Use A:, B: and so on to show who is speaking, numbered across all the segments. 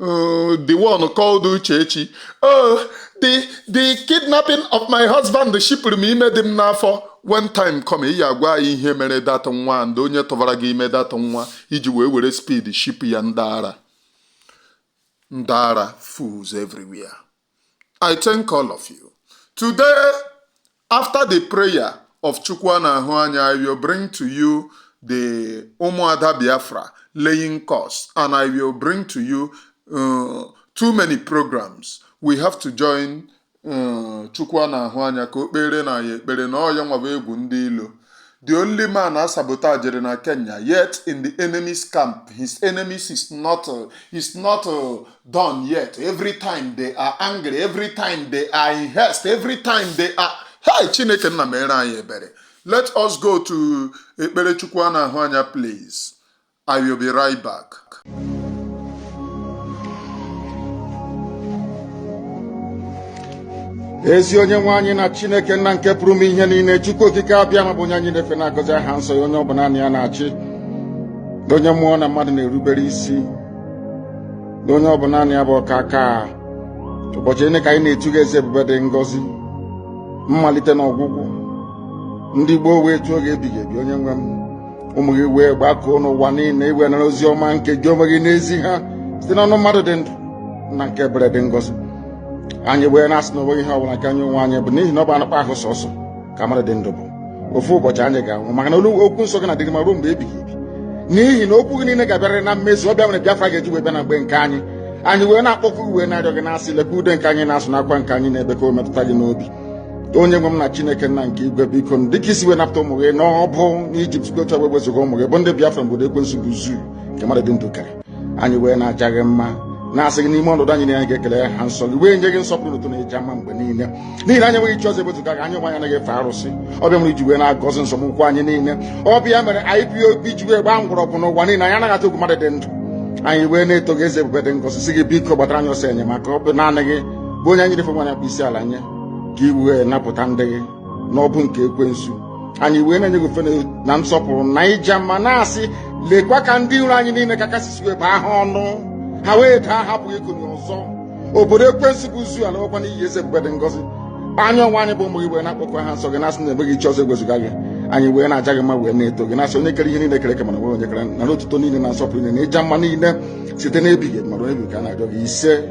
A: Oh, the one called Uchechi. Oh, the the kidnapping of my husband shipụrụ m ime dị m n'afọ when time come ị ya-agwa anyị ihe mere that nwa and onye tụbara gị ime that nwa i ji wee were speed shipụ ya ndị ara ndị ara fools everywhere I thank all of you. Today, after the prayer of Chukwu na-ahụ anya, I will bring to you the Umuada Biafra laying curse, and I will bring to you uh, too many programs. We have to join uh, Chukwu na-ahụ anya ka o kpere nna ya ekpere na ọ ya nwa bụ egwu ndị ilo. The only man a sabotaged na Kenya, yet in the enemy's camp, his enemies is not uh, is not uh, done yet. Every time they are angry, every time they are in haste, every time they are Hey, Chineke nna mere anyị ebere. Let us go to Ekperechukwu a na-ahụ anya please. I will be right
B: back. ezi onye nwe anyị na chineke nna nke pụrụ ime ihe niile chukwu okike abịama bụ onye anyị na-efe na-agọzi aha nsọ ya onye ọ bụ naanị ya na-achị onye mmụọ na mmadụ na-erubere isi onye ọ bụ naanị ya bụ ọkaka ụbọchị niile ka anyị na-etu gị eze ebube dị ngọzi mmalite na ọgwụgwụ ndị gboo wee tuo gị ebighị ebi onye nwe m ụmụ gị wee gbakọọ n'ụwa niile i wee nara ozi ọma nke gị onwe gị na-ezi ha site n'ọnụ mmadụ dị ndụ nna nke ebere dị ngọzi anyị wee na-asị na onweghị ihe ọbụla nke anyị onwe anyị bụ n'ihi na ọ bụ anụkpa ahụ sọsọ ka mmadụ dị ndụ bụ ofu ụbọchị anyị ga-anwụ maka na olu okwu nsọ gị na-adịrị ma ruo mgbe ebighị ebi n'ihi na okwu gị niile ga-abịarịrị na mmezu ọ bụ ya mere Biafra ga-eji wee bịa na mgbe nke anyị anyị wee na-akpọku wee na-arịọ gị na-asị lekwa ude nke anyị na-asụ na akwa nke anyị na-ebe ka o metụta gị n'obi onye nwe m na chineke nna nke igwe biko dịka i si wee napụta ụmụ gị n'ọbụ n'ijipt gotu wee wezụga ụmụ gị bụ ndị biafra n'obodo ekwensu bụ zoo nke mmadụ dị ndụ kere anyị wee na-aja gị mma na-asị gị n'ime ọnọdụ anyị na anyị ga-ekele aha nsọ gị wee nye gị nsọpụrụ otuto na ịja mma mgbe niile n'ihi na anyị enweghị chi ọzọ ewezuga gị anyị onwe anyị anaghị efe arụsị ọ bụ ya mere i ji wee na-agọzi nzọm ụkwụ anyị niile ọ bụ ya mere IPOB ji wee gbaa mgbọrọgwụ n'ụwa niile anyị anaghị atụ egwu mmadụ dị ndụ anyị wee na-eto gị eze ebube dị ngọzi sị gị biko gbatara anyị ọsọ enyemaka ọ bụ naanị gị bụ onye anyị na-efe na-akpọ isi ala nye ka i wee napụta ndị gị n'ọbụ nke ekwensu anyị wee na-enye gị ofufe na nsọpụrụ na ịja mma na-asị lekwa ka ndị iro anyị niile ka kasị si wee baa ha ọnụ ha wee daa hapụ ikuni ọzọ obodo ekwensu bụ zoo alaakwa n'iyi eze ebube dị ngọzi anyị onwe anyị bụ ụmụ gị wee na-akpọku aha nsọ gị na-asị na enweghị chi ọzọ ewezuga gị anyị wee na-aja gị mma wee na-eto gị na-asị onye kere ihe niile kere eke mana enweghị onye kere nara otuto niile na nsọpụrụ niile na ịja mma niile site n'ebighị ma ruo ebighị ka a na-arịọ gị isee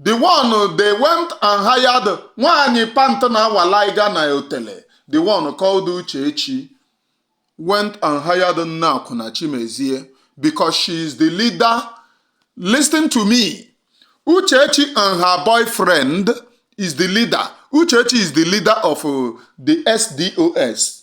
A: the one they went and hired nwaanyị pant na-awa laiga na otele the one called Uchechi went and hired nne akwụna Chimezie because she is the leader listen to me Uchechi and her boyfriend is the leader Uchechi is the leader of uh, the SDOS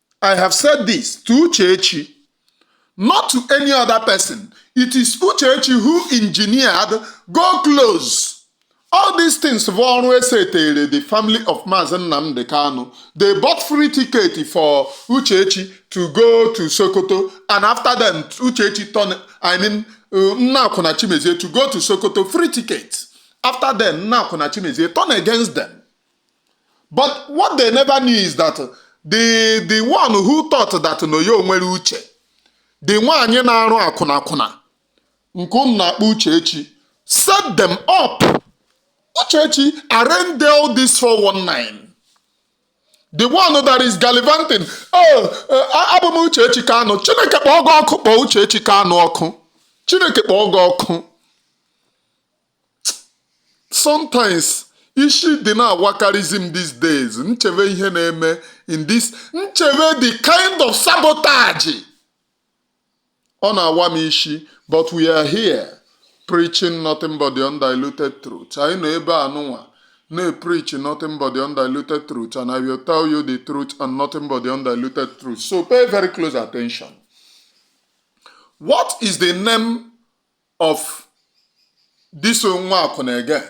A: I have said this to Uchechi, not to any other person. It is Uchechi who engineered go close. All these things bụ ọrụ esetere the family of Maazị Nnamdi Kanu. They bought free ticket for Uchechi to go to Sokoto and after them Uchechi turn, I mean uh, Nna Akwụna Chimezie to go to Sokoto free ticket. After them Nna Akwụna Chimezie turn against them. but what they never knew is that the the one who thought that na ya nwere uche the nwaanyị na-arụ akwụna akwụna nke unu na-akpọ uchechi set them up uchechi arrange all this 419 the one that is gallivanting oh uh, abụ m uchechi kanu chineke kpọọ gị ọkụ kpọọ uchechi kanu ọkụ chineke kpọọ gị ọkụ sometimes ishi dị na-awakarịzi m these days m chebe ihe na-eme in this m chebe the kind of sabotage ọ na-awa m ishi but we are here preaching nothing but the undiluted truth anyị nọ ebe a nụnwa na-epreach nothing but the undiluted truth and I will tell you the truth and nothing but the undiluted truth so pay very close attention what is the name of this nwa akwụna again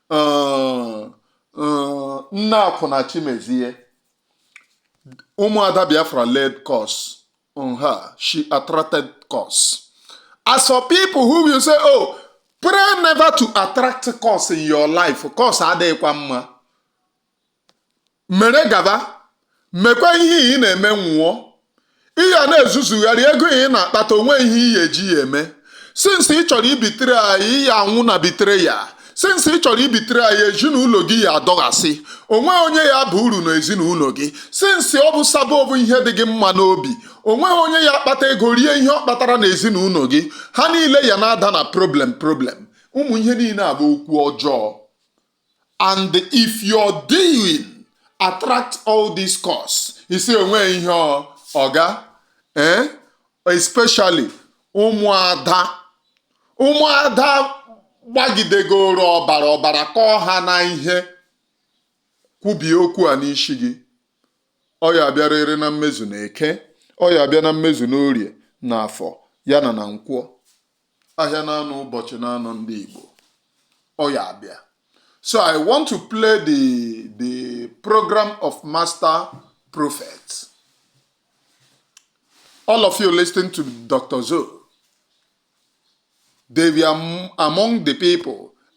A: uh, uh, nne akwụna chimezie ụmụada biafra led cause on her she attracted cause as for people who will say oh pray never to attract cause in your life cause adịghịkwa mma mere gaba mekwa ihe ị na-eme nwụọ ị ya na-ezuzugharị ego ị na-akpata o nweghị ihe ị ya eji ya eme since ị chọrọ ibetray anyị ị ya anwụ na betrayal since ị chọrọ ibetray anyị ezinụlọ gị ya adọghasị o nweghị onye ya bụ uru na ezinụlọ gị since ọ bụ sabo bụ ihe dị gị mma n'obi o nweghị onye ya akpata ego rie ihe ọ kpatara na ezinụlọ gị ha niile ya na-ada na problem problem ụmụ ihe niile a bụ okwu ọjọọ and if your doing attract all these curses o nweghị ihe ọ- ọ ga eh? especially ụmụada ụmụada gbagidegoro ọbara ọbara kọọ ha na ihe kwubie okwu a n'isi gị ọ ya bịarịrị na mmezu na eke ọ ya bịa na mmezu n'orie na afọ ya na na nkwọ ahịa naanọ ụbọchị naanọ ndị Igbo ọ ya abịa so I want to play the the program of master prophet all of you listening to Dr. Zo they were among the people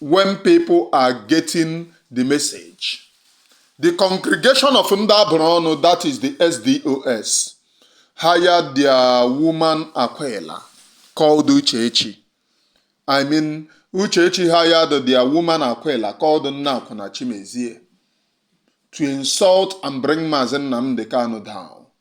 A: when people are getting the message the congregation of ndị a bụrụ ọnụ that is the sdos hired their woman akwụla called Uchechi I mean Uchechi hired their woman akwụla called Nneakwụna Chimezie to insult and bring Mazi Nnamdi Kanu down.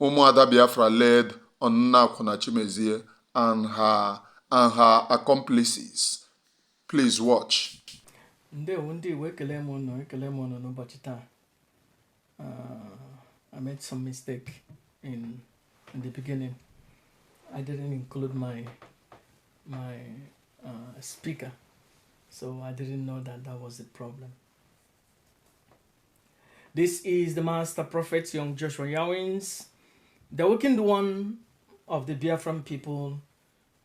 A: Ụmụada Biafra laid on Nneakwụna Chimezie and her and her accomplices. Please watch. Ndewo ndị Igbo ekele m ụnụ ekele m ụnụ n'ụbọchị
C: taa. Uh, I made some mistake in, in the beginning. I didn't include my my uh, speaker, so I didn't know that that was the problem. This is the master prophet, young Joshua Yawins, the awakened one of the Biafran people,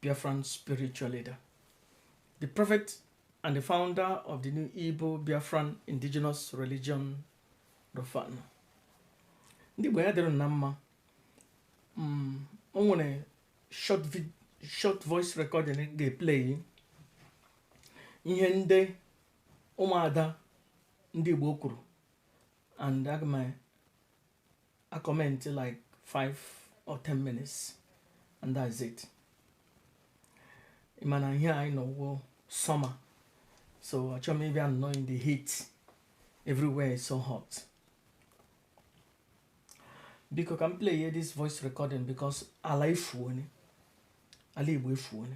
C: Biafran spiritual leader, the prophet and the founder of the new Igbo Biafran indigenous religion, Rofan. Ndị Igbo ya dịrị ụnụ na mma mm, o nwere short vid short voice recording ga-eplay ihe ndị ụmụada ndị Igbo kwuru and aga m a-comment like 5 or 10 minutes and that's it ị ma na ihe anyị nọ wụ summer so achọrọ m ịbịa nnọọ in the heat everywhere is so hot biko ka m play this voice recording because ala efuone ala Igbo efuone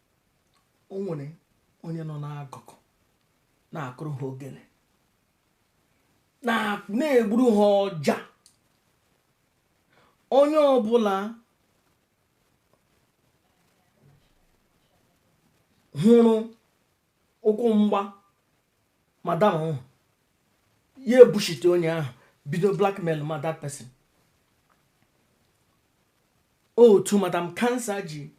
C: o nwere onye nọ n'akụkụ na-akụrụ ha ogene na-egburu ha ọja onye ọbụla hụrụ ụkwụ mgba madam ahụ ya ebushite onye ahụ bido blackmail ma that person otu madam cancer ji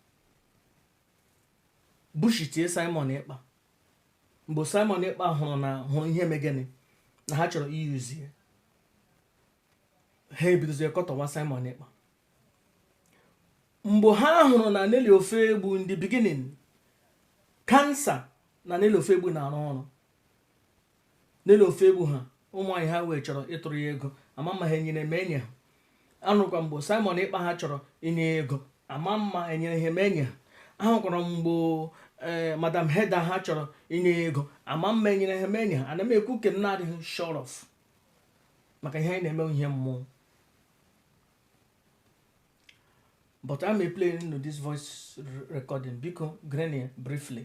C: bushitie simon ekpa mgbe simon ekpa hụrụ na hụrụ ihe megene na ha chọrọ i-use ya ha ebidozie kọtọwa simon ekpa mgbe ha hụrụ na nelly ofoegbu in the beginning cancer na nelly ofoegbu na-arụ ọrụ nelly ofoegbu ha ụmụ nwanyị ha wee chọrọ ịtụrụ ya ego ama m ma ha enyere ma enye ha anụkwa mgbe simon ekpa ha chọrọ inye ya ego ama m ma enyere ha ma enye ha ahụkwara m mgbe ee eh, madam heda ha chọrọ inye ya ego ama m ma enyere ha ma enye ha ana m ekwu nke m na-adịghị sure of maka ihe anyị na-eme ihe mmụọ but I'm playing you this voice recording biko gerenụ ya briefly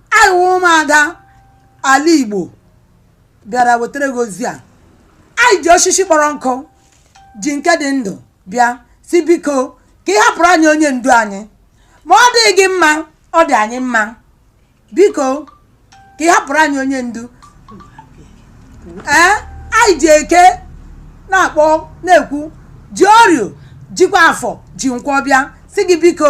D: anyị wụ ụmụada ala igbo bịara wetara gị ozi a anyị ji osisi kpọrọ nkụ ji nke dị ndụ bịa sị biko ka ị hapụrụ anyị onye ndu anyị ma ọ dịghị gị mma ọ dị anyị mma biko ka ị hapụrụ anyị onye ndu ee anyị ji eke na-akpọ na-ekwu ji orio jikwa afọ ji nkwọ bịa sị gị biko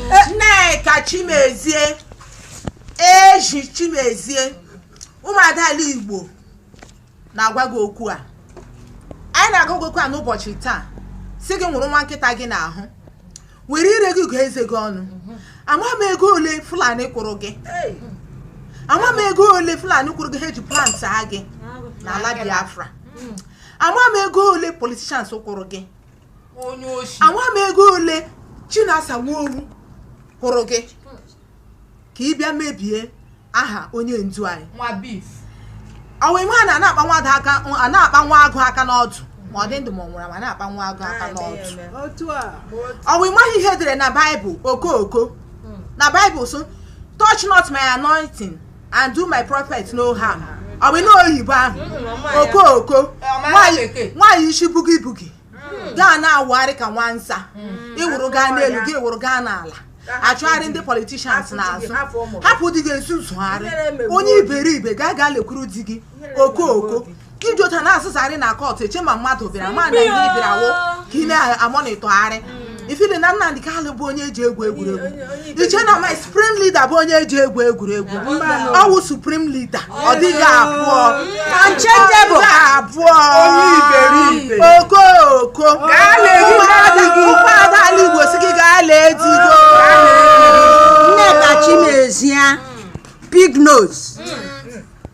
E: nneka chimezie eji chimezie ụmụada ala igbo na-agwa gị okwu a anyị na-agwa gị okwu a n'ụbọchị taa sị gị nwụrụ nwa nkịta gị n'ahụ were ire gị gụọ eze gị ọnụ ama m ego ole fulani kwụrụ gị ama m ego ole fulani kwụrụ gị ha eji plant ha gị n'ala biafra ama m ego ole politicians kwụrụ gị ama m ego ole Chinasa Nworu kwụrụ gị ka ị bịa mebie aha onye ndu anyị ọwa ịmaghị na a na-akpa nwa agụ aka n'ọdụ ma ọ dị ndụ ma ọ nwụrụ anwụ a na-akpa nwa agụ aka n'ọdụ ọwa ịmaghị ihe edere na baịbụl okooko hmm. na baịbụl sị touch not my anointing and do my prophet no harm ọ bụ na oyibo ahụ okooko nwaanyị isi bugi bugi gaa na-awụgharị ka nwa nza ịwụrụ gaa n'elu gị awụrụ gaa n'ala achụgharị ndị politicians n'azụ hapụ di gị ezuzugharị onye iberibe gaa gaa lekwuru di gị okooko ka iji otu na-ezuzugharị na kọtụ eche ma mmadụ bịara ma na ihe bịara wụ ka ị na-amonitọgharị mm. ifili na Nnamdi Kanu bụ onye eji egwu egwuregwu iche na my supreme leader bụ onye eji egwu egwuregwu ọwụ supreme leader ọ dịghị abụọ unchangeable abụọ okooko ụmụada ala Igbo sị gị gaa lee di gị o Nneka
F: Chimezie big nose mm.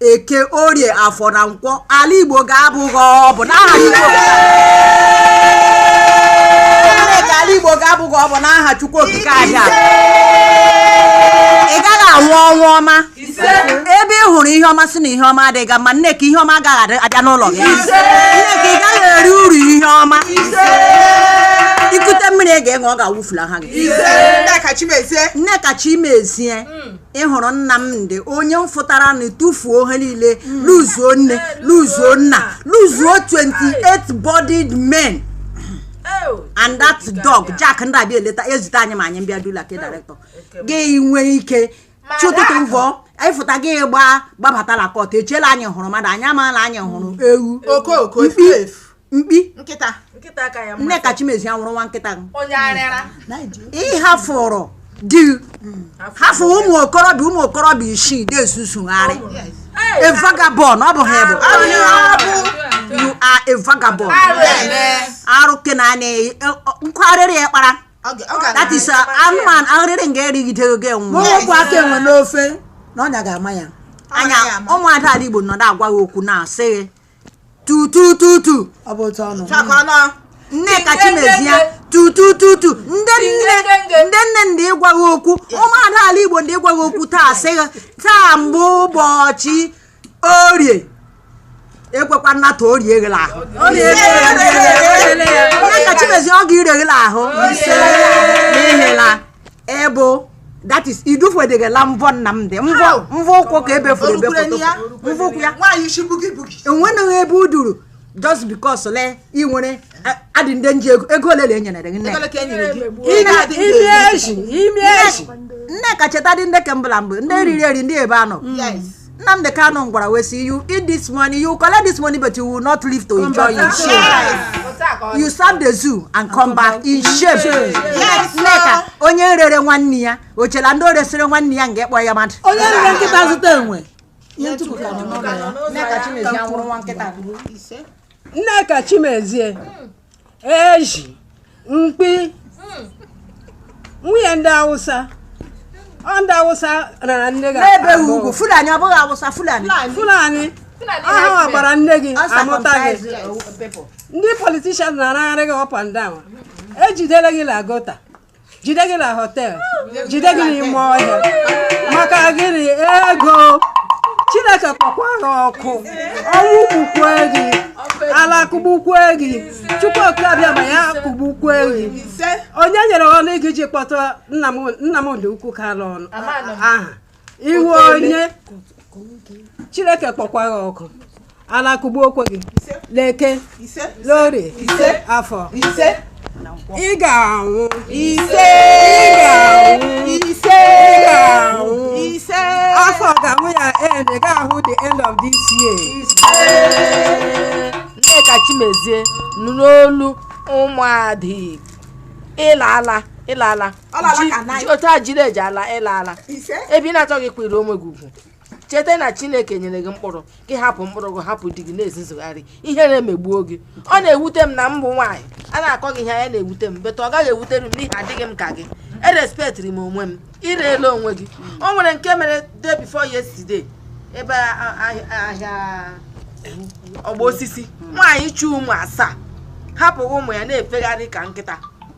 F: eke orie afọ na nkwọ ala igbo ga-abọ gị ọbọ nneka ala igbo ga-abọ gị ọbọ n'aha chukwu okike abịama ị gaghị anwụ ọnwụ ọma ebe ị hụrụ ihe ọma sị na ihe ọma adịghị mma nneka ihe ọma agaghị abịa n'ụlọ gị nneka ị gaghị eri uru ihe ọma ikute mmiri ị ga-eṅụ ọ ga-awụfulaha gị nneka chimezie ị hụrụ nnamdi onye m fụtara na tụfuo ihe niile luzuo nne luzuo nna luzuo 28 bodied men and that dog jack ndị abịa eleta ezute anyị ma anyị mbịa dula ke director gị nwee ike chi ụtụtụ mvọ ịfụta gị gbaa gbabatala kọt echela anyị hụrụ mmadụ anyị amaala anyị hụrụ ewu mkpi mkpi nkịta
E: nkịta ka ya nneka
F: chimezie nwụrụ nwa nkịta onye arịara ịhafụrụ di hafụ ụmụ okorobịa ụmụ okorobịa isii na-ezuzugharị a vagabond ọ bụ gị bụ you are a vagabond arụ ke na anya nkwarịrị ya kpara that is uh, anụmanụ
D: arịrị nga
F: erigide
D: oge
F: nwụ
D: nwa aka enwe n'ofe
F: na ọnya
D: ga-ama
F: ya
D: anya
F: ụmụada ala igbo nọ na-agwa gị okwu na-asị gị tutututu ọ bụ
D: otu ọnụ chakọnọ
F: nneka chimezie tutututu ndị nne ndị nne ndị ịgwa gị okwu ụmụada ala igbo ndị ịgwa gị okwu taa sị taa bụ ụbọchị orie ekwekwa nnata o rie gị l'ahụ nneka chimezie ọ ga-ire gị l'ahụ n'ihela ebe that is idufwedegela mvọ nnamdị mvọ mvọ ụkwụ ka e befuru ebefuru mvọ ụkwụ ya enweghị ebe o duru just because le ị nwere adị ndị nji ego ego ole e nyere gị nneka cheta dị ndị ke mbụ la mgbe ndị riri eri ndị ebe ha nọ Nnamdi Kanu ngwara wee sị you eat this money you collect this money but you will not live to enjoy in shame you serve the zoo and come back in shame Nneka onye rere nwanne ya o chela ndị o resịrị nwanne ya nga ịkpọ ya mmadụ onye rere nkịta
D: zụta enwe ihe ntukwu
F: ka nọ n'ụlọ
G: ya Nneka Chimezie nwụrụ nwa nkịta Nneka Chimezie ezi mkpi hmm. nwunye ndị awụsa ọ ndị awụsa rara nne gị n'ebe ugwu fulani
F: ọ bụghị awụsa fulani fulani ọ ha gbara nne gị a mụta gị ndị politishan na-aragharị gị up and down e jidere gị la gọta jide gị na họtel jide gị n'ime ọhịa maka gịnị ego chineke kpọkwa gị ọkụ ọnwụ kpukwue gị ala kụgbukwue gị chukwu oke abịama ya kụgbukwue gị onye nyere ọnụ gị ji kpọtụ nnamdị okwu kanu aha ị wụ onye chineke kpọkwa gị ọkụ ala kụgbukwe gị leke lori afọ ị ga-anwụ ise ị ga-anwụ ise ị ga-anwụ ise afọ ga-anwụ ya end ị gaghị ahụ the end of this
E: year nneka chimezie nụrụ olu ụmụada igbo ị laala ị laala otu a jiri eji ala ị laala ebe ị na-achọghị ịkwanyiri onwe gị ugwu cheta na chineke nyere gị mkpụrụ gị hapụ mkpụrụ gị hapụ di gị na-ezizugharị ihere emegbuo gị ọ na-ewute m na m bụ nwaanyị a na-akọ gị ihe a na-ewute m but ọ gaghị ewutere m n'ihi adịghị m ka gị erespektiri m onwe m i reela onwe gị o nwere nke mere day before yesterday ebe ahịa ọgbọ osisi nwaanyị chị ụmụ asaa hapụ ụmụ ya na-efegharị ka nkịta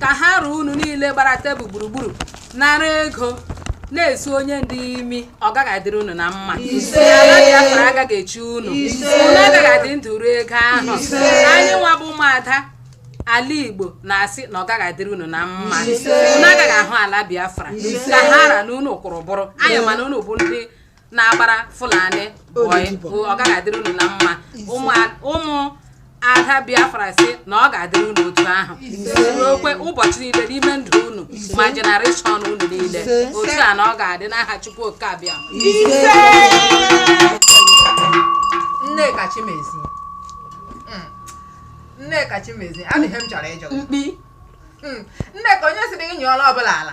H: ka ha ra unu niile gbara tebụl gburugburu nara ego na-esu onye ndu imi ọ gaghị adịrị unu na mma ala biafra agaghị echi unu unu agaghị adị ndụ rie ego ahụ anyị nwa bụ ụmụada ala igbo na-asị na ọ gaghị adịrị unu na mma unu agaghị ahụ ala biafra ka ha ra na unu kwụrụ bụrụ anyị mana unu bụ ndị na-agbara Fulani boy ọ gaghị adịrị unu na mma ụmụ ada Biafra sị na ọ ga-adịrị unu otu ahụ ruokwe ụbọchị niile n'ime ndụ unu ma generation unu niile otu a na ọ ga-adị n'aha Chukwu oke abịama Nneka Chimezie
E: hmm. Nneka Chimezie adịghị m chọrọ ịjụ mkpi hmm. Nneka onye siri gị nyụọla ọbụla ala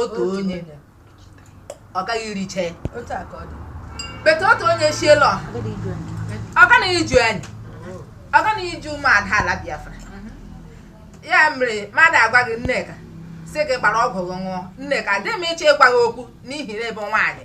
E: otu onye ọ gaghị ericha ya but otu onye shiela ọha ọ gaghị iju anyị ọ gaghị iju ụmụada ala Biafra ya mere mmadụ agwa gị Nneka sị gị gbara ọgwụ gị ṅụọ Nneka adịghị m ịchọ ịgwa gị okwu n'ihi na ebe nwaanyị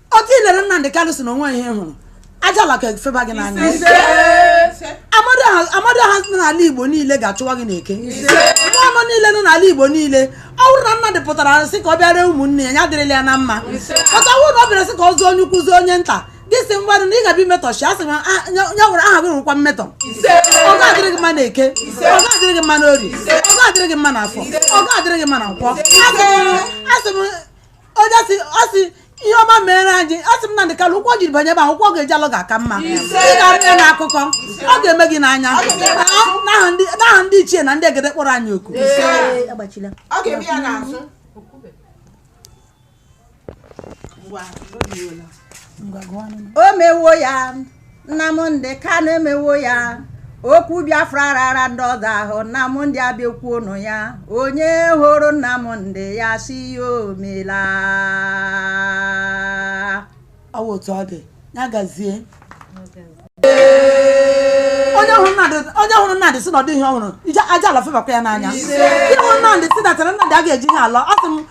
D: otu i lere Nnamdị Kanụ sị na o nwe ihe ị hụrụ aja ala ga-efeba gị n'anya Amadioha nọ n'ala igbo niile ga-achụwa gị n'eke nwa ọnụ niile nọ n'ala igbo niile ọ bụrụ na Nnamdị pụtara sị ka ọ bịara ụmụnne ya ya dịrịla ya na mma but ọ wụrụ na ọ bịara sị ka ọ zụọ onye ukwu zụọ onye nta gị si mmadụ na ị ga-abịa imetọshi asị m ah, ya nwere aha gị nwekwa mmetọ ọ ga-adịrị gị mma na eke ọ ga-adịrị gị mma na orie ọ ga-adịrị gị mma na afọ ọ ga-adịrị gị mma na nkwọ asị m onye sị ọ sị ihe ọma mere anyị asị m Nnamdị Kanụ ụkwụ o jiri banye ebe ahụ ụkwụ ọ ga-eji alọ ga-aka mma ị ga-anụ ya na akụkọ ọ ga-eme gị n'anya Ọ- n'aha ndị- n'aha ndị ichie na ndị egede kpọrọ anyị oku Ee, agbachila ọ ga-eme ya n'azụ
F: Ngwa, o mewo ya Nnamdị Kanụ emewo ya okwu Biafra rara ndị ọzọ ahụ Nnamdị abịa kwuonụ ya onye hụrụ Nnamdị ya sị ya o
D: meela ọ wụ otu ọ dị ya gazie onye hụrụ Nnamdị onye hụrụ Nnamdị sị na ọ dị ihe ọ hụrụ ije aja ala febakwa ya n'anya onye hụrụ Nnamdị sị natara Nnamdị a ga-eji ihe ala ọ sị m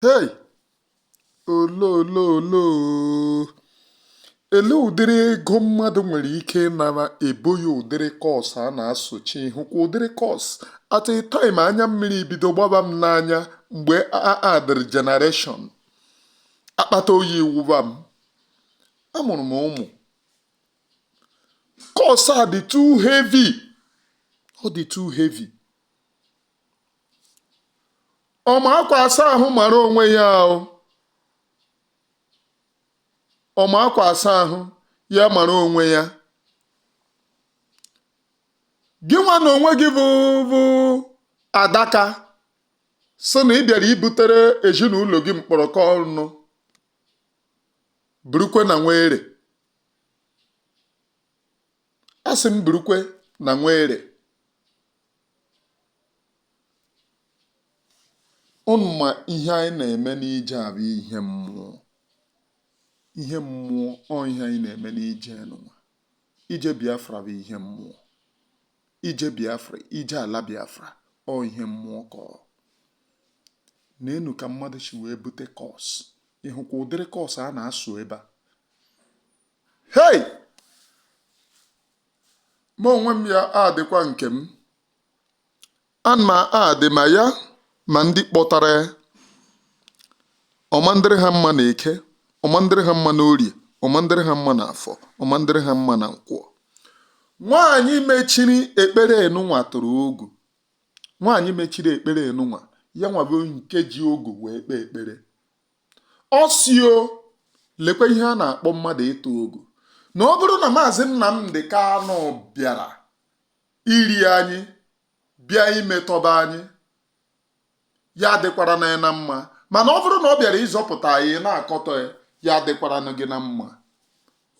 A: hei oloololo ele ụdịrị ego mmadụ nwere ike ịnara ebuo ya ụdịrị curse a na-asochi hụkwa ụdịrị curse at a time anya mmiri bido gbaba m n'anya mgbe a addịrị generation akpata oyi wụba m amụrụ m ụmụ curse a dị too heavy ọ dị too heavy ọma akwa asa ahụ mara onwe ya ahụ ọma akwa asa ahụ ya mara onwe ya gị nwa na onwe gị bụ bụ adaka sị na ị bịara ibutere ezinụlọ gị mkpọrọkọ ọnụ burukwe na nwere asị m burukwe na nwere ụnụ ma ihe anyị na-eme n'ije a bụ ihe mmụọ ihe mmụọ ọ ihe anyị na-eme n'ije n'ụwa ije biafra bụ ihe mmụọ ije biafra ije ala biafra ọ ihe mmụọ ka ọ na-anụ ka mmadụ si wee bute curse ị hụkwa ụdịrị curse a na-asụ ebe a hei ma onwe m ya adịkwa nke m na mma adị ma ya ma ndị kpọtara ya ọ ma ndịrị ha mma na eke ọ ma ndịrị ha mma na orie ọ ma ndịrị ha mma na afọ ọ ma ndịrị ha mma na nkwọ nwaanyị mechiri ekpere enunwa tụrụ ogu nwaanyị mechiri ekpere enunwa ya nwa bụ nke ji ogu wee kpee ekpere ọ sị o lekwa ihe a na-akpọ mmadụ ịtụ ogu na ọ bụrụ na maazị Nnamdi Kanu bịara iri anyị bịa imetọba anyị ya adịkwarana ya na mma mana ọ bụrụ na ọ bịara ịzọpụta anyị na-akọtọ ya ya adịkwarana gị na mma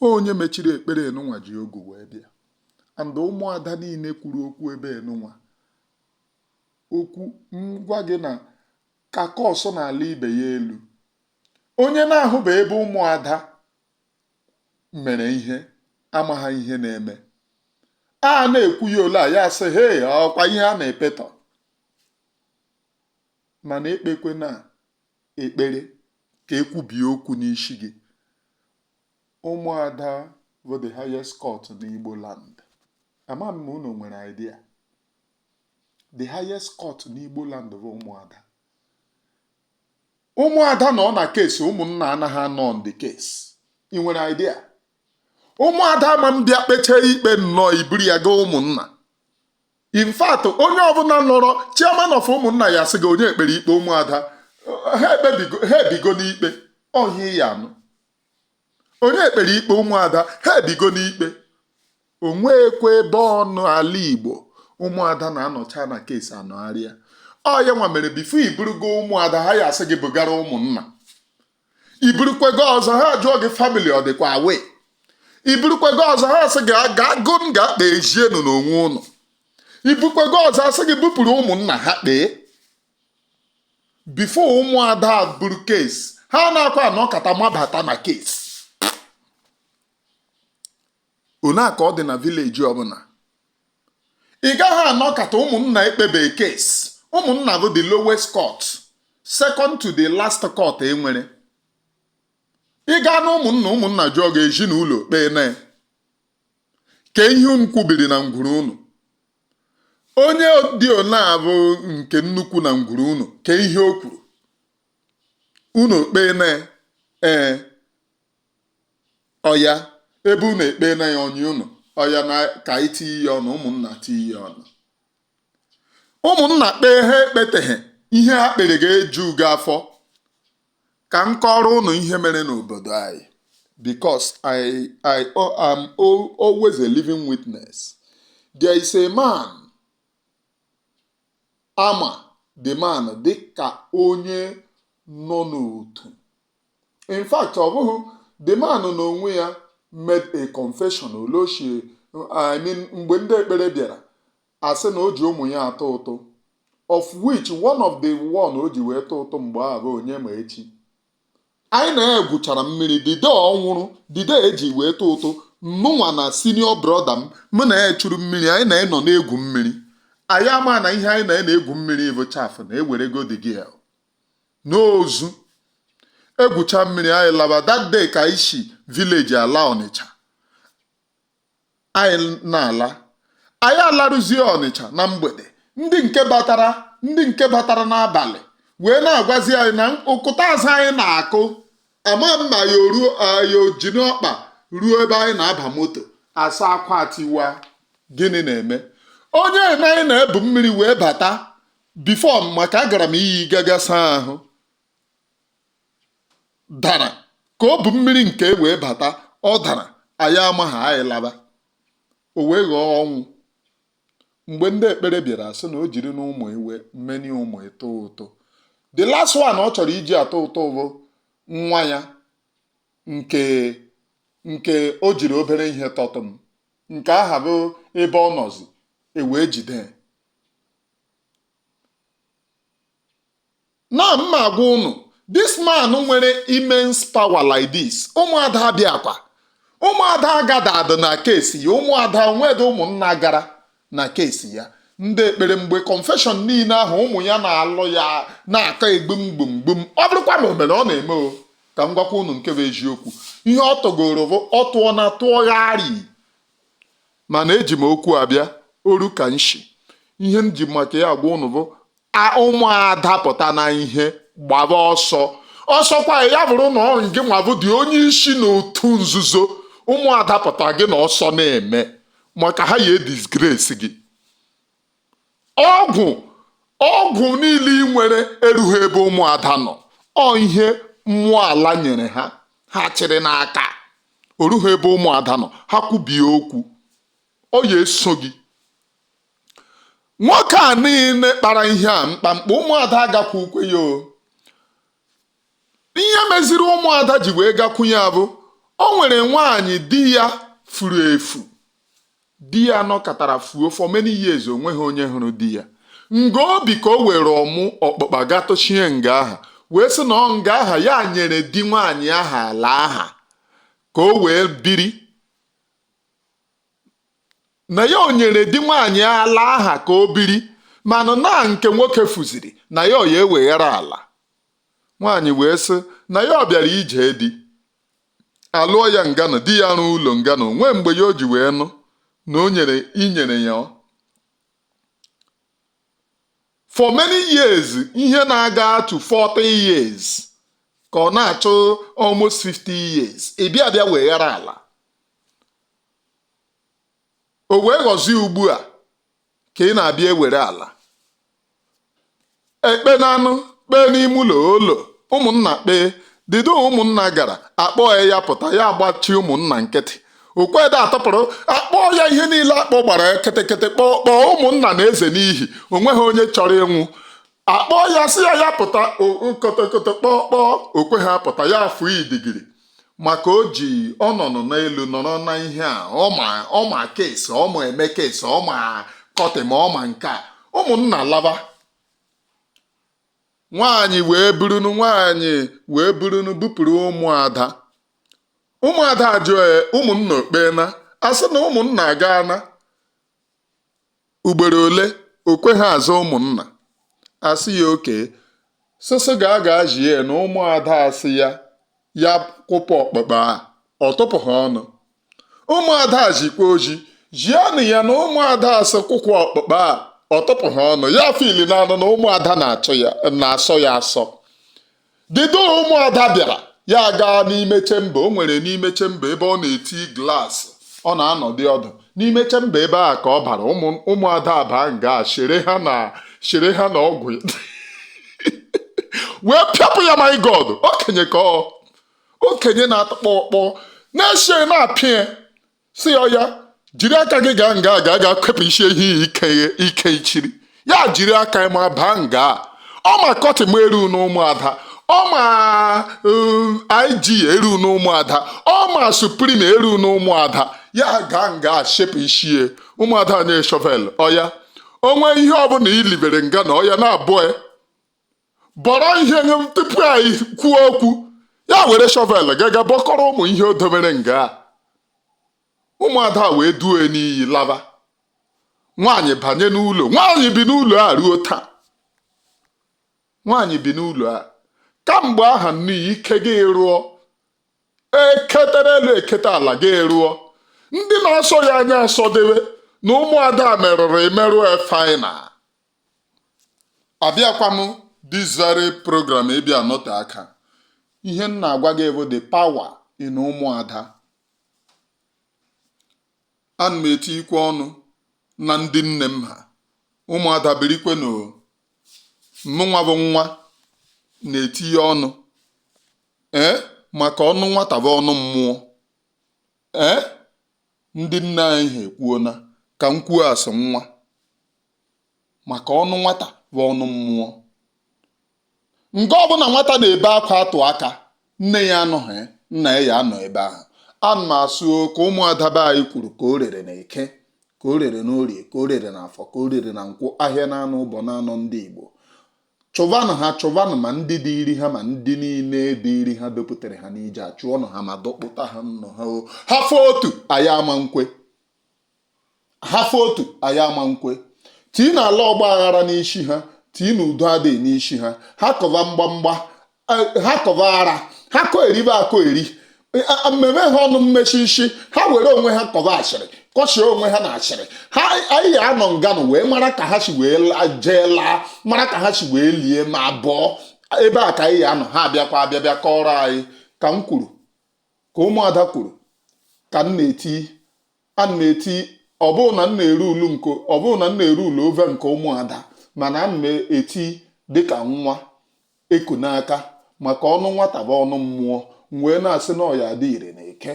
A: onye mechiri ekpere enunwa ji ogu wee bịa and ụmụada niile kwuru okwu ebe enunwa okwu ngwa gị na ka kọsụ n'ala ibe ya elu. Onye na-ahụbe ebe ụmụada mere ihe amaghị ihe na-eme. A na-ekwu ya ole a ya sị hee ọkwa ihe a na-epetọ mana ekpekwena ekpere ka e kwubie okwu n'isi gị ụmụada bụ the highest court n'Igbo land ama m ma unu nwere idea the highest court n'Igbo land bụ ụmụada ụmụada nọ na case ụmụnna anaghị anọ on the case ị nwere idea ụmụada ma mbịa kpechaa ikpe nnọọ i buru ya gaa ụmụnna in fact onye ọbụla nọrọ chairman of ụmụnna ya-asị gị onye kpere ikpe ụmụada ha ebigo n'ikpe ọ ihe ị ya-anụ onye kpere ikpe ụmụada ha ebigo n'ikpe o nweekwa ebe ọ nọ ala igbo ụmụada na-anọcha na case anọgharịa ọ ya nwa mere before i burugo ụmụada ha ya asị gị bugara ụmụnna i burukwa gaa ọzọ ha jụọ gị family ọ dịkwa aware i burukwa gaa ọzọ ha asị gị gaanụ ga kpezienụ n'onwe ụnụ i bukwa gaa ọzọ a sị gị bupụrụ ụmụnna ha kpee before ụmụada buru case ha anaakwa anọkata mabata na case o nwee ka ọ dị na village ọbụla ị gaghị anọkata ụmụnna ekpebe case ụmụnna bụ the lowest court second to the last court enwere ị gaa na ụmụnna ụmụnna jụọ gị ezinụlọ okpeena kee ihe unu kwubiri na ngwuru unu onye dị ọ na-abụ nke nnukwu na ngwuru unu kee ihe o kwuru unu okpeena ya ee ọya ebe unu ekpeena ya o nyie unu ọya na ka anyị tinye ya ọnụ ụmụnna tinye ya ọnụ ụmụnna kpee ha ekpeteghị ihe ha kpere ga-eju gị afọ ka m kọọrọ unu ihe mere n'obodo anyị because I am always a living witness there is a man a ma the man dị ka onye nọ n'otu in fact ọ bụghị the man n'onwe ya made a confession olochie I mean mgbe ndị ekpere bịara asị na o ji ụmụ ya atụ ụtụ of which one of the one o ji wee tụ ụtụ mgbe ahụ bụ Onyemaechi anyị na ya gwuchara mmiri the day ọ nwụrụ the day e ji wee tụ ụtụ mụnwa na senior brother m mụ na ya chụrụ mmiri anyị na ya nọ na-egwu mmiri anyị ama na ihe anyị na ya na-egwu mmiri bụ chaff na ewerego the guy n'ozu egwucha mmiri anyị laba that day ka anyị si village ala ọnịcha anyị na-ala anyị alarụzie ọnịcha na mgbede ndị nke batara ndị nke batara n'abalị wee na-agwazi anyị na ụkụta azụ anyị na-akụ ama m ma anyị ojina ọkpa ruo ebe anyị na-aba moto asị akwa tiwa gịnị na-eme onye na anyị na-ebu mmiri wee bata before maka agara m iyi gaga saa ahụ dara ka o bu mmiri nke e wee bata ọ dara anyị amaghị anyị laba o wee ghọọ ọnwụ mgbe ndị ekpere bịara sị na o jirina ụmụ ya how many ụmụ ya tụ ụtụ the last one ọ chọrọ iji atụ ụtụ bụ nwa ya nke nke o jiri obere ihe tọtụ m nke ahụ bụ ebe ọ nọzi ewee jide na m ma agwa unu this man nwere immense power like this ụmụada abịakwa ụmụada agadadị na case ya ụmụada o nwedị ụmụnna gara na case ya ndị ekpere mgbe confession niile ahụ ụmụ ya na-alụ ya n'aka egbum gbum gbum ọ bụrụkwa na o mere ọ na-eme o ka m gwakwa unu nke bụ eziokwu ihe ọ tọgoro bụ ọ tụọ na tụọgharị Mana eji m okwu a bịa oru ka nshi. Ihe m ji maka ya agwa ụnụ bụ ụmụada pụta na ihe gbaba ọsọ. Ọsọkwa ya bụrụ na ọ ngịnwa bụdị onye isi na otu nzuzo ụmụada pụta gị na ọsọ na-eme maka ha ya edisgrace gị. ọgwụ ọgwụ niile ị nwere erughị ebe ụmụada nọ ọ ihe mmụọ ala nyere ha ha chịrị n'aka orughị ebe ụmụada nọ ha kwubie okwu ọ ya eso gị nwoke a niile kpara ihe a mkpamkpa ụmụada agakwukwa ya o ihe meziri ụmụada ji wee gakwu ya bụ o nwere nwaanyị di ya furu efu Di ya nọkatara fuo for many years onweghị onye hụrụ di ya. Nga o bi ka o were ọmụ ọkpụkpa ga tụchie nga aha wee sị na ọ nga aha ya nyere di nwaanyị aha ala aha ka o wee biri na ya o nyere di nwaanyị ala aha ka o biri mana na nke nwoke fuziri na ya ọ ya eweghara ala. Nwaanyị wee sị na ya ọ bịara ije di alụọ ya nganụ di ya rụọ ụlọ nganụ nwee mgbe ya o ji wee nụ na o nyere inyere ya o for many years ihe na-aga to 40 years ka ọ na-achụ almost 50 years ị bịa bịa weghara ala o wee ghọzie ugbu a ka ị na-abịa ewere ala ekpeenanụ kpee n'ime ụlọ ụlọ ụmụnna kpee dido ụmụnna gara akpọ ya ya pụta ya agbachi ụmụnna nkịtị okweda atọpụrụ akpọ ya ihe niile akpọ gbara ketekete kpọọ kpọọ ụmụnna na-eze n'ihi onweghị onye chọrọ ịnwụ akpọọ ya sị ya ya pụta kotokoto kpọọ kpọọ o kweha apụta ya afụ idigiri maka o ji ọ nọnụ n'elu nọrọ na ihe a ọ ma case ọ ma eme case ọ ma court ma ọ ma nke a ụmụnna laba nwaanyị wee burunu nwaanyị wee burunu bupụrụ ụmụada ụmụada ajụọ ya ụmụnna okpeena asị na ụmụnna agaana Ugboro ole o kweghị aza ụmụnna asị ya okee sisi ga aga zie na ụmụada asị ya ya kwụpụ ọkpụkpa a ọ tụpụha ọnụ ụmụada zikwa ozi zienụ ya na ụmụada asị kwụpụ ọkpụkpa a ọ tụpụha ọnụ ya filinanụ na ụmụada na-asọ ya asọ dịdo ụmụada bịara ya gaa n'ime chamber o nwere n'ime chamber ebe ọ na-eti glass ọ na-anọdị ọdụ n'ime chamber ebe a ka ọ bara ụmụada abaa nga chere ha na chere ha na ọgwụ wee pịapụ ya my god okenye ka ọ okenye na-atọkpọ ọkpọ na-ese na-apịa sị ya ya jiri aka gị gaa nga ga kepụsie ihe i kechiri ya jiri aka ma baa nga ọ ma kọtị m eru n'ụmụada ọ ma um, IG eru n'ụmụada ọ ma Supreme eru n'ụmụada ya gaa nga sepụsie ụmụada nye shovel ọya o nwee ihe ọbụla i libere nga na ọya na-abọ bọrọ ihe nye m tupu anyị kwuo okwu ya were shovel gaga bọkọrọ ụmụ ihe o dobere nga a ụmụada wee duo ya n'iyi laba nwaanyị banye n'ụlọ nwaanyị bi n'ụlọ a ruo taa nwaanyị bi n'ụlọ a kamgbe aha nnu ya ike gị rụọ e ketara elu e kete ala gị rụọ ndị na-asọ ya anya asọdebe na ụmụada merụrụ emerụ final abịakwa m this very program ịbịa nọte aka ihe m na-agwa gị bụ the power in ụmụada ana m etiikwe ọnụ na ndị nne m ha ụmụada birikwe na mụnwa bụ nwa na-etinye ọnụ ee maka ọnụ nwata bụ ọnụ mmụọ ee ndị nne anyị ha ekwuona ka m kwuo as nwa maka ọnụ nwata bụ ọnụ mmụọ nga ọbụla nwata na-ebe akwa atụ aka nne ya anọghị nna ya ya anọ ebe ahụ ana m asụ ka ụmụada be anyị kwuru ka o rere na eke ka o rere na orie ka o rere na afọ ka o rere na nkwọ ahịa na anọ ụbọ na anọ ndị igbo chụvanụ ha chụvanụ ma ndị dịịrị ha ma ndị niile dịịrị ha dupụtara ha n'ije chụọnụ ha ma dọkpụta ha n'ọha ha fọ otu anyị ama nkwe ha fọ otu anyị ama nkwe tiinụ ala ọgba aghara n'isi ha tiinụ udo adịghị n'isi ha ha kọva mgbamgba ha kọva ara ha kọ eribe akọ eri mmemme ha ọnụ mmechi isi ha were onwe ha kọva asịrị kọchie onwe ha na asịrị ha anyị ya anọ nganụ wee mara ka ha si wee jee laa mara ka ha si wee lie ma bọọ ebe a ka anyị ya anọ ha abịakwa abịa bịa kọrọ anyị ka m kwuru ka ụmụada kwuru ka m na-eti ana m eti ọ bụghị na m ọ bụghị na m na-erulu over nke ụmụada mana ana m eti dịka nwa eku n'aka maka ọnụ nwata bụ ọnụ mmụọ m wee na-asị na ọ ya-adị ire na eke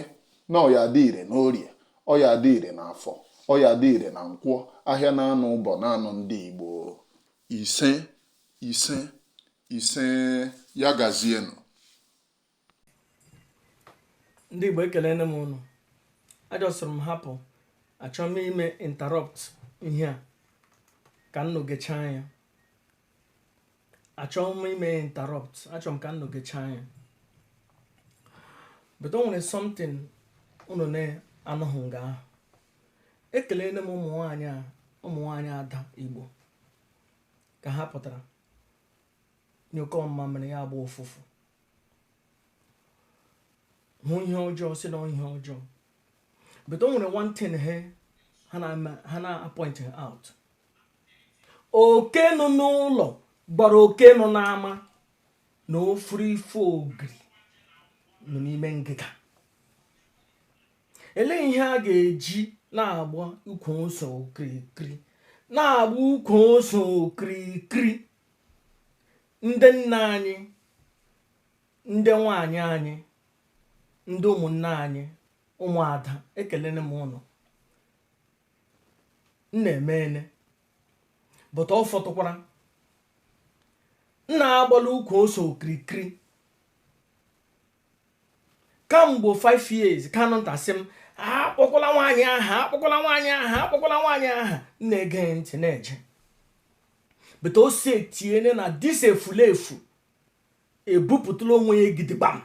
A: na ọ ya-adị ire na orie ọ ya-adị ire na afọ ọ ya-adị ire na nkwọ ahịa na anọ ụbọ na anọ ndị igbo ise ise ise ya gazienụ
C: ndị igbo ekelene m ụnụ ajọsụrụ m hapụ achọ m ime interrupt ihe a ka ụnụ gechaa ya achọ m ime interrupt achọ m ka ụnụ gechaa ya but o nwere something ụnụ na-anụghị nga ahụ ekelene m ụmụ nwaanyị ada igbo ka ha pụtara nyụkọọ mmamịrị ya agba ụfụfụ hụ ihe ọjọọ sị na ihe ọjọọ but o nwere one thing he ha na-apoint out oke nọ n'ụlọ gwara oke nọ n'ama na ọ fụrụ ife ogiri nọ n'ime ngịga elee ihe a ga-eji na-agba ukwu ose okirikiri na-agba ukwu ose okirikiri ndị nna anyị ndị nwanyị anyị ndị ụmụnne anyị ụmụada ekelene m ụnụ ụnụ emeene but ọ fọtụkwara ụnụ agbala ukwu ose okirikiri kamgbe 5 years kanunta sị m akpọkwala nwaanyị aha akpọkwala nwaanyị aha akpọkwala nwaanyị aha m na-ege ntị na-eje but o si etiene na this efulefu ebupụtala onwe ya gidigbam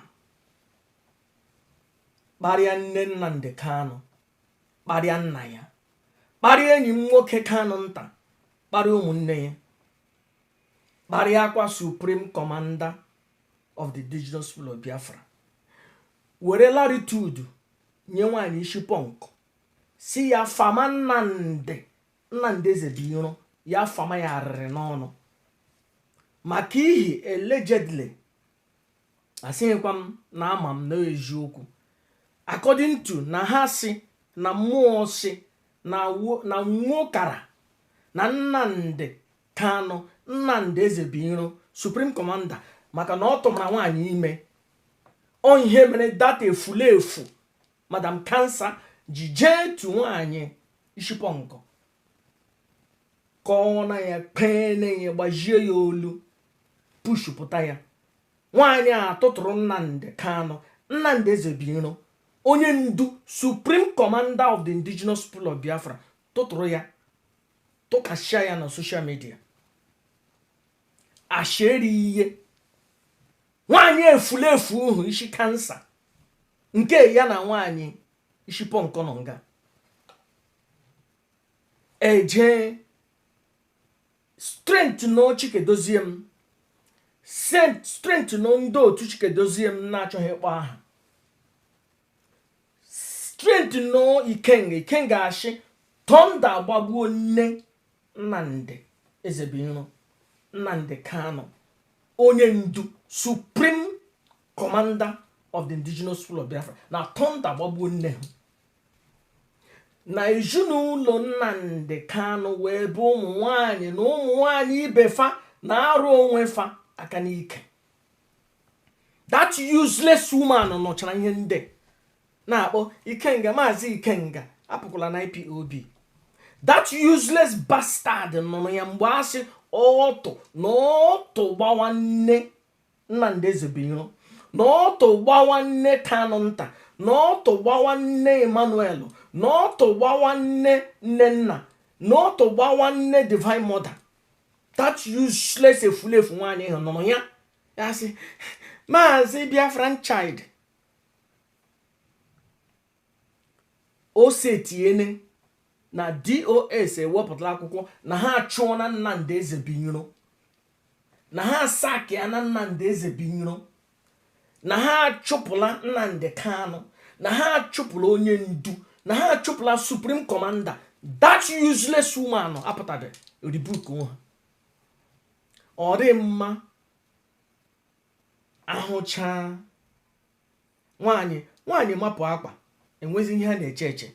C: kparịa nne nnamdi kanu kparịa nna ya kparịa enyi m nwoke kanunta kparịa ụmụnne ya kparịakwa supreme commander of the indigenous people of biafra were latitude nye nwaanyị isi punk sị ya fama nnamdi nnamdi ezebuiro ya fama ya arịrị n'ọnụ maka ihi allegedly asịghịkwa m na ama m na eziokwu according to na ha sị na mmụọ sị na nwokara na nnamdi Kanu, Nnamdi Ezebuiro, Supreme Commander maka na ọ tụmara nwaanyị ime ọ ihe mere that efulefu madam cancer ji jee tu nwaanyị ishi punk ka ọ na ya kpee na ya gbajie ya olu pushupụta ya nwaanyị a tụtụrụ Nnamdi Kanu Nnamdi Ezebuiro onye ndu Supreme Commander of the Indigenous People of Biafra tụtụrụ ya tụkasịa ya na social media ashịrị ihe nwaanyị efulefu ahụ ishi cancer nke ya na nwaanyị ishi pọnkọ nọ nga e ji strengthen chika edoziem strengthen ndị otu chika edoziem na-achọghị ịkpọ aha strengthen ikenga ikenga a shị thunder gbagbuo nne nnamdi ezebuiro nnamdi kanu onye ndu supreme commander of the indigenous people of biafra na thunder gbagbuo nne ha na ezinụlọ nnamdi kanu wụ ebe ụmụ nwanyị na ụmụ nwanyị ibe fa na-arụ onwe fa aka n'ike that useless woman nụchara ihe ndị na-akpọ ikenga maazị ikenga apụkwala na ipob that useless bastard nụrụ ya mgbe a sị ọtụ na ọtụ gbawa nne nnamdi ezebuiro na ọtụ gbawa nne kanunta na ọtụ gbawa nne emmanuel na ọtụ gbawa nne nnenna na ọtụ gbawa nne divine mother that useless efulefu nwaanyị ahụ nụrụ ya ya sị maazị biafran child o setiene na dos ewepụtala akwụkwọ na ha achụọna nnamdi ezebuiro na ha asackịana nnamdi ezebuiro na ha achụpụla nnamdi kanu na ha achụpụla onye ndu na ha achụpụla supreme commander that useless woman apụtadị rebuke ha ọ dị mma a hụcha nwaanyị nwaanyị mapụ akwa enwezi ihe a na-eche eche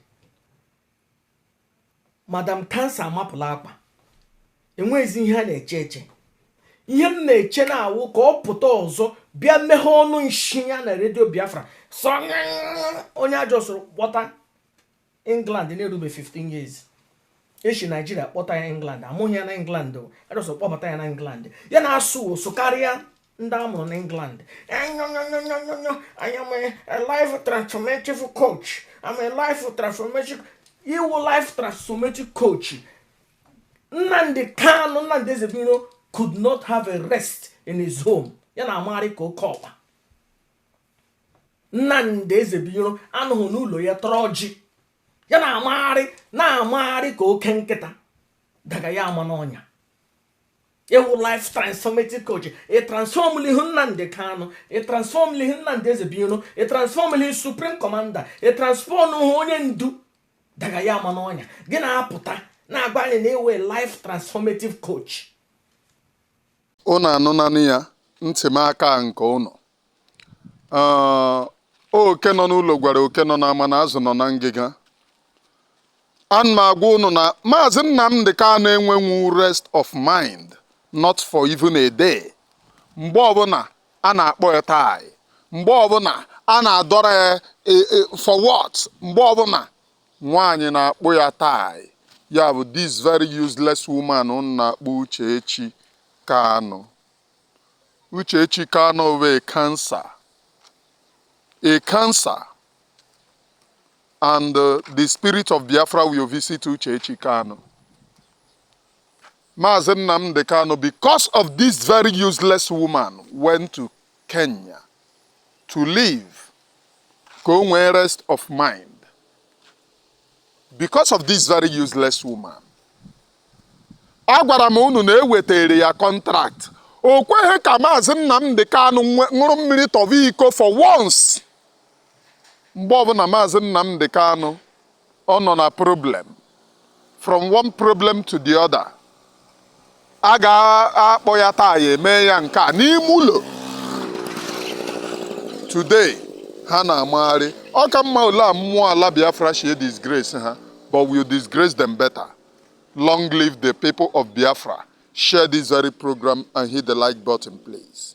C: madam cancer amapụla akwa enwezi ihe a na-eche eche ihe m na-eche na-awụ ka ọ pụta ọzọ bịa meghe ọnụ nshi ya na radio biafra so onye a justụrụ kpọta england na-erube 15 years e shi nigeria kpọta ya england a mụghị ya na england a just kpọbata ya na england ya na-asụ asụ karịa ndị a mụrụ na england anyonyonyonyonyo i am a life transformative coach i'm a life transformative ị wụ life transformative coach nnamdi kanu nnamdi ezebuiro could not have a rest in his home ya na-amagharị ka oke ọkpa Nnamdi Ezebiro anọghị n'ụlọ ya tọrọ ọjị ya na-amagharị ka oke nkịta daga ya ama n'ọnya ị wụ life transformative coach ị transformlihu Nnamdi Kanu ị transformlihu Nnamdi Ezebiro ị transformlihu supreme commander ị transformlihu onye ndu daga ya ama n'ọnya gị na-apụta na-agwa anyị na ị wụ life transformative coach
A: Unu anụnanụ ya, ntị m aka nke unu. Ah, oke nọ n'ụlọ gwara oke nọ n'ama na azụ nọ na ngịga. Ana m agwa unu na Maazị Nnamdi Kanu enwenwu rest of mind not for even a day. Mgbe ọbụla a na-akpọ ya tai, mgbe ọbụla a na-adọrọ ya e, e, for what, mgbe ọbụla Nwaanyị na-akpụ ya taị. Ya bụ this very useless woman unu na-akpọ Uchechi Kanu. Uchechi Kanu bụ a cancer. A cancer. And uh, the spirit of Biafra will visit Uchechi Kanu. Maazị Nnamdi Kanu, because of this very useless woman, went to Kenya to live ka o nwee rest of mind because of this very useless woman. Agwara m unu na e wetere ya contract o kweghị ka maazị Nnamdi Kanu ṅụrụ mmiri tọba iko for once. mgbe ọbụla Maazị Nnamdi Kanu ọ nọ na problem from one problem to the other a ga-akpọ ya taa ya eme ya nke a n'ime ụlọ today ha na-amagharị ọ ka mma ole a mmụọ ala Biafra shie disgrace ha but we'll disgrace them better long live the people of Biafra share this very program and hit the like button please